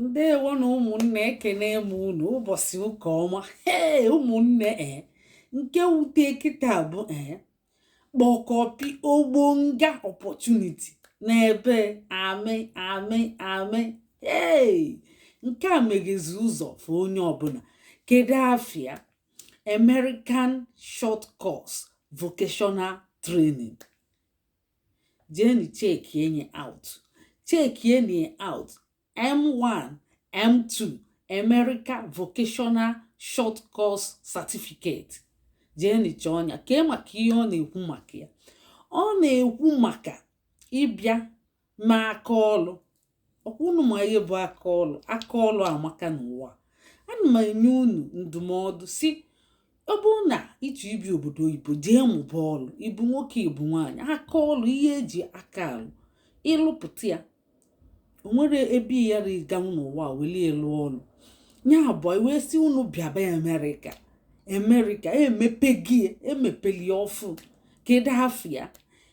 ndewo nụ ụmụnne ekene m unu ụbọsị ụka ọma ee ụmụnne ee nke wute kịta bụ ee kpọkọpi ogbonga opportunity n'ebe amị amị amị ee nke a meghezi ụzọ for onye ọbụla kedu afa ya American short course vocational training jeenụ checkienụ ya out checkienụ ya out m1 m2 America Vocational Short Course Certificate jeenụ chọọnụ ya kee maka ihe ọ na-ekwu maka ya ọ na-ekwu maka ịbịa mụa aka ọlụ ọkwa unu ma ihe bụ aka ọlụ aka ọlụ amaka n'ụwa ana m enye unu ndụmọdụ sị ọ bụrụ na ị chọ ibi obodo oyibo jee mụba ọlụ ị bụ nwoke ị bụ nwaanyị aka ọlụ ihe eji aka alụ ịlụpụta ya o nwere ebe ya riganwu n'ụwa welie lụọ ọlụ ya bụ wee sị unu bịaba America America emepe gị emepeli ọfụ kedu afa ya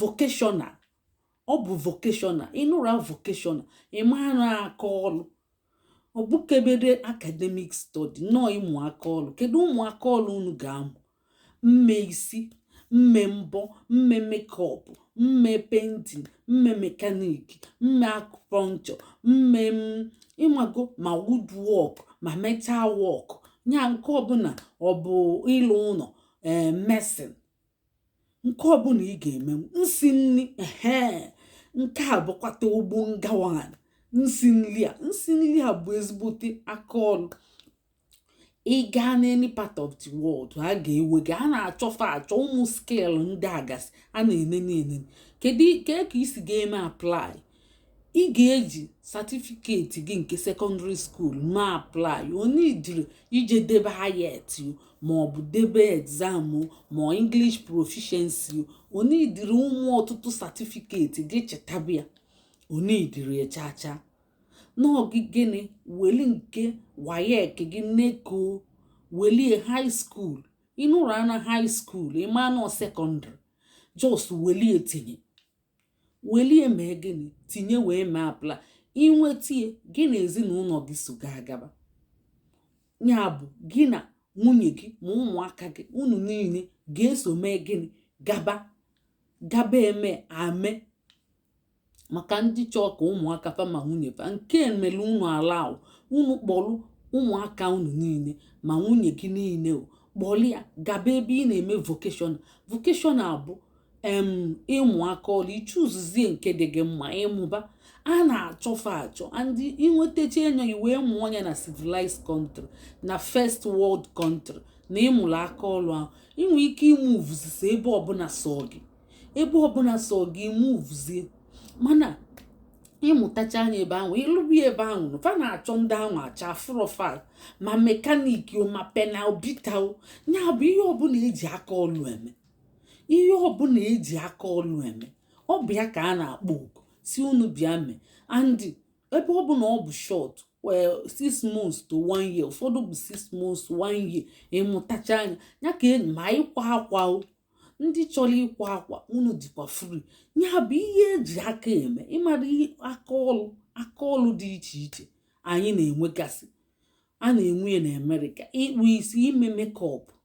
vocational ọ bụ vocational ị nụrụ vocational ị ma na ọ aka ọrụ ọ bụkebere academic study no ịmụ aka ọrụ kedu ụmụ aka ọrụ unu ga-amụ mme isi mme mbọ mme makeup mme painting mme mechanic mme acupuncture mme ị mago ma woodwork ma metal work ya nke ọbụla ọ bụ ịlụ ụnọ ee mason nke ọbụla ị ga-eme nsi nri ehe nke a bụkwata ogbonga one nsi nri a nsi nri a bụ ezigbote aka ọrụ ị gaa n'any part of the world a ga-ewe gị a na-achọ fa achọ ụmụ skill ndị a gasị a na-enene enene kedu ka i si ga-eme apply ị ga-eji certificate gị nke secondary school ma apply ọ needịrọ ije debe IELTS maọbụ debe exam ma English proficiency ọ needịrọ ụmụ ọtụtụ certificate gị chịta bịa ọ needịrọ echacha n'ọgị gịnị weli nke WAEC gị NECO welie high school ị nụrụna high school ị ma na ọ secondary just welie tinye welie mee gịnị tinye wee mee apply i nwete ya gị na ezinụnọ gị so gị agaba ya bụ gị na nwunye gị ma ụmụaka gị unu niine ga-eso mee gịnị gaba gaba eme ame maka ndị chọọ ka ụmụaka fa ma nwunye fa nke mere unu ala ahụ unu kpọrụ ụmụaka unu niine ma nwunye gị niine o kpọrọ ya gaba ebe ị na-eme vocational vocational bụ em ịmụ aka ọlụ ichuzuzie nke dị gị mma ịmụba a na-achọfa achọ and inwetacha enyo gị wee mụọ nya na civilized country na first world country na ịmụlụ aka ọlụ ahụ inwe ike imuvuzisi ebe ọbụla sọ gị ebe ọbụla sọ gị imuvuzie mana ịmụtachaa nya ebe ahụ ịlụba ebe ahụ fa na-achọ ndị ahụ achọfụrọ fa ma mekaniki ma panel beater o ya bụ ihe ọbụla eji aka ọlụ eme ihe ọbụla eji aka ọlụ eme ọ bụ ya ka a na-akpọ oku si unu bịa mee and ebe ọ bụ na ọ bụ short well six months to one year ụfọdụ bụ six months one year ịmụtachaa nya ya ka enyi ma ịkwa akwa o ndị chọrọ ịkwa akwa unu dịkwa free ya bụ ihe eji aka eme ịmara aka ọlụ aka ọlụ dị iche iche anyị na-enwegasị a na-enwe ya na america ịkpụ isi ime makeup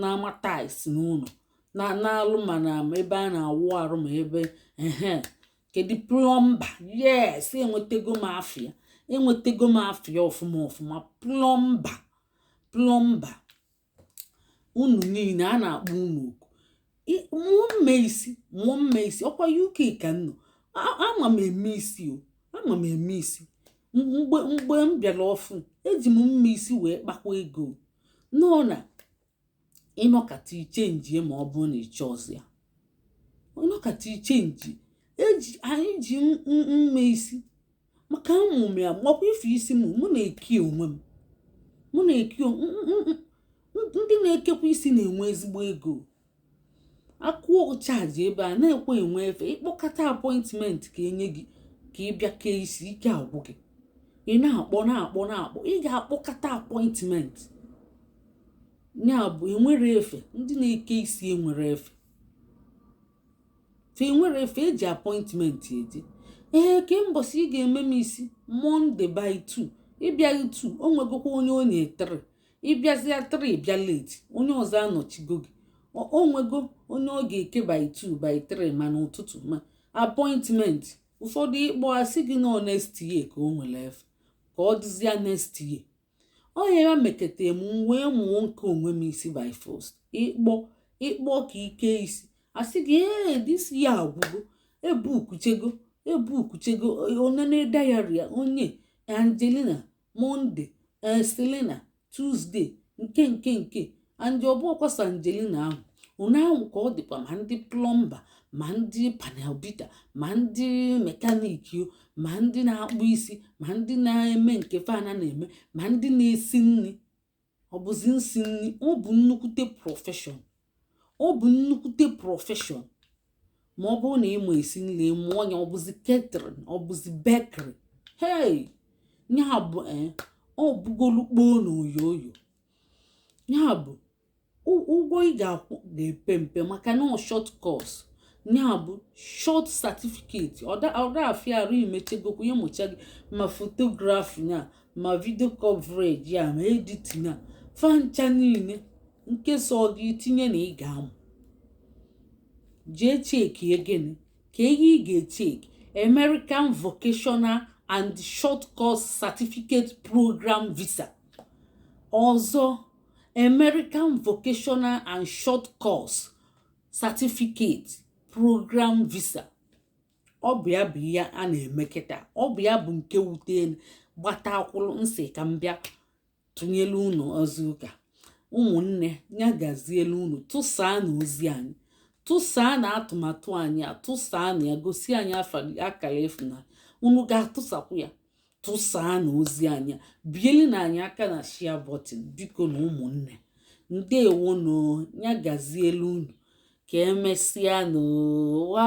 na-ama tiles n'ụlọ na-alụ ma na ebe a na-awụ arụ ma ebe ehe kedu plọmba yes enwetego m afịa enwetego m afịa ọfụma ọfụma plọmba plọmba unu niile a na-akpọ unu oku mụọ mme isi mụọ mme isi ọkwa uk ka m nọ ama m eme isi o ama m eme isi mgbe mgbe m bịara ọfụụ eji m mme isi wee kpakwa ego no na ịnọkata ichenjie ma ọ bụrụ na ịchọrọzi ya ịnọkata ichenji eji anyị ji mme isi maka mụ mụwa makwa ife isi m mụ na-eke onwe m mụ na-eke ndị na-ekekwa isi na-enwe ezigbo ego akwụọ chaji ebe a na-ekwe enwe efe ịkpọkọta apọịntmentị ka enye gị ka ị bịa kee isi ike agwụ gị ị na-akpọ na-akpọ na-akpọ ị ga-akpọkọta apọịntmentị ya bụ enwere efe ndị na-eke isi enwere efe fe enwere efe eji apọịntmentị eje ee kee mbọsị ị ga-eme m isi monday by 2 ịbịaghị 2 o nwegokwa onye onye 3 ịbịazịa 3 bịa late onye ọzọ anọchigo gị o nwego onye ọ ga-eke by 2 by 3 ma n'ụtụtụ ma apọịntmentị ụfọdụ ịkpọ asị gị no next year ka o nwere efe ka ọ dịzịa next year ọ nya meketa m wee mụọ nke onwe m isi by force ịkpọ ịkpọ ka i kee isi asị gị ee this year agwụgo ebukuchago ebukuchago o nene diary onye angelina monday selina tuesday nke nke nke and ọ bụ ọkwa same angelina ahụ ụna ahụ ka ọ dịkwa ma ndị plọmba ma ndị panel beater ma ndị mekaniki ma ndị na-akpụ isi ma ndị na-eme nke fanwa na-eme ma ndị na-esi nri ọ bụzi nsi nri ọ bụ nnukwute profession ọ bụ nnukwute profession ma ọ bụrụ na ị ma esi nri mụọ nya ọ bụzi catering ọ bụzi bakery hei ya bụ eh, ọ bụgolu kpoo na oyo oyo ya bụ ụgwọ ị ga-akwụ ga-epe mpe maka na short course ya bụ short certificate ọ da afịa arụ imechegokwu ya mụcha gị ma photography ya ma video coverage ya ma editing ya fa ncha niile nke sọọ gị tinye na ị ga-amụ jee chekie gịnị ka ihe ị ga-echeki American Vocational and Short Course Certificate Program Visa ọzọ American Vocational and Short Course Certificate Program Visa ọ bụ ya bụ ihe a na-eme kịta ọ bụ ya bụ nke wutelu gbata akwụrụ m sị ka m bịa tụnyelu unu ozi ụka ụmụnne ya gazielu unu tụsaanụ ozi anyị tụsaanụ atụmatụ anyị a tụsaanụ ya gosi anyị akara ịfụnanya unu ga-atụsakwu ya tụsaanụ ozi anyị a bielinụ anyị aka na share button bikonụ ụmụnne ndewonụ ya gazielu unu ka emesịanụ wa